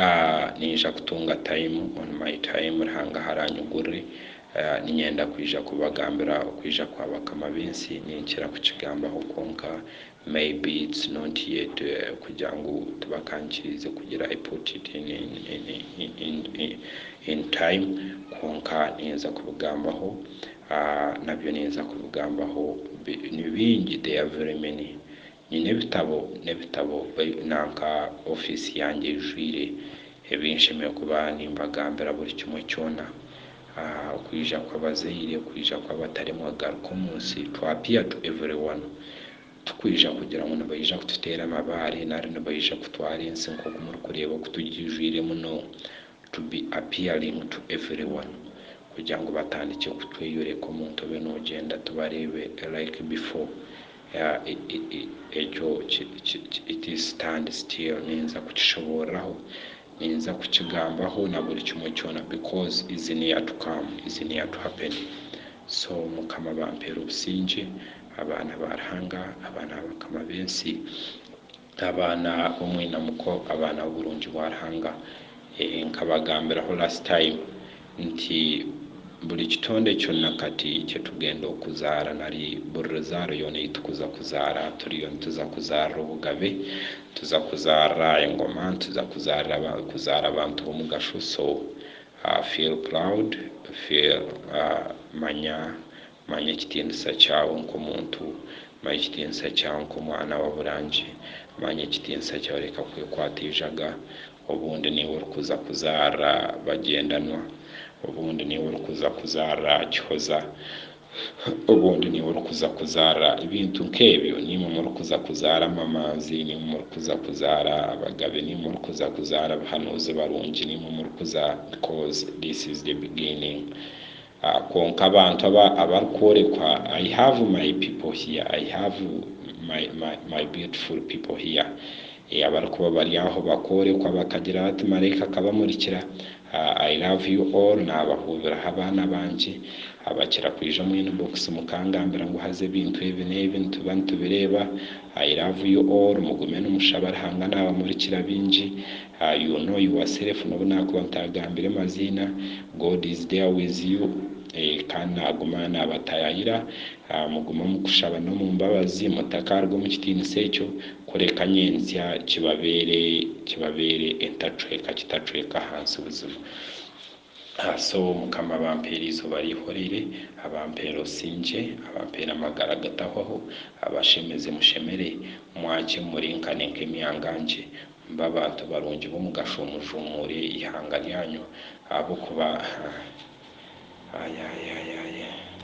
Aah ninja kutunga time on my time Ruhanga aharanyigurire Aah ninyenda kwija kubagambira okwija kwa bakama b'ensi ninkira kukigambaho kwonka maybe it's not yet kugira ngu tibakankiriize kugira I put it in in in in time kwonka ninza kubigambaho Aah nabyo ninza kubigambaho bi ni bingi they are very many Nyine ebitabo n'ebitabo baitu nanka ofiisi yangye eijwire ebi nshemereire kuba nimbagambira buri kimwe kyona. Okwija kw'abazaire, okwija kw'abataremwa kugaruka omu nsi, to appear to everyone. Tikwija kugira ngu nibaija kututeera amabaare nari nibaija kutwara ensi nk'oku murikureeba oku tugiijwire muno. To be appearing to everyone kugira ngu batandikye kutweyoreka omuntu obe noogyenda tubareebe like before. Ekyo ki stand still ninza kukishoboorora ho, ninza kukigambaho na buri kimwe kyona because is near to come, is near to happen. So Mukama bampeere obusingye, abaana ba Ruhanga, abaana ba bakama b'ensi. Abaana b'omwina muko abaana b'oburungi bwa Ruhanga. Nkabagambiraho last time nti buri kitonde kyona kati kyetugenda okuzaara nari buri ruzaaro yoona eyitukuza kuzaara turiyo nituza kuzaarira obugabe, nituza kuzaarira engoma, nituza kuzaara abantu b'omugasho so feel proud, feel manya Manya ekitiinisa kyawe nk'omuntu. Manya ekitiinisa kyawe nk'omwana wa Burangi. Manya ekitiinisa kyawe reka kwekwata eijaga. Obundi niiwe orikuza kuzaara Bagyendanwa. Obundi niiwe orikuza kuzaara Kihoza. Obundi niiwe orikuza kuzaara ebintu nk'ebyo. Niimwe murikuza kuzaara Amamanzi. Niimwe murikuza kuzaara Abagabe. Niimwe murikuza kuzaara abahanuuzi barungi. Niimwe murikuza because this is the beginning. Kwonka abantu aba abarikworekwa, I have my people here, I have my, my, my beautiful people here. Ee, abarikuba bari aho bakoorekwa, bakagira bati, Maraika akabamurikira, I love you all, naabahuubiraho abaana bangye. Bakira kwija omu inbox mukangambira ngu haza ebintu ebi n'ebi nituba nitubireeba, I love you all, mugume nimushaba Ruhanga naabamurikira bingi. Are you know your self nobu nakuba ntagambire maziina God is there with you Kandi naguma nabatayayira mugume omukushaba nomumbabazi mutakaruga omukitiinisa ekyo kureka nyentsya kibabeere kibabeere entacweeka kitacweeka ahansi buzima so mukama abampeere eizooba rihoreire abampeere obusingye abampeere amagara agatahwaho abashemeze mushemere mwakye murinkane nkemyangangye Mube abantu barungi b'omugasho, mujumure eihanga ryanyu ahabw'okuba.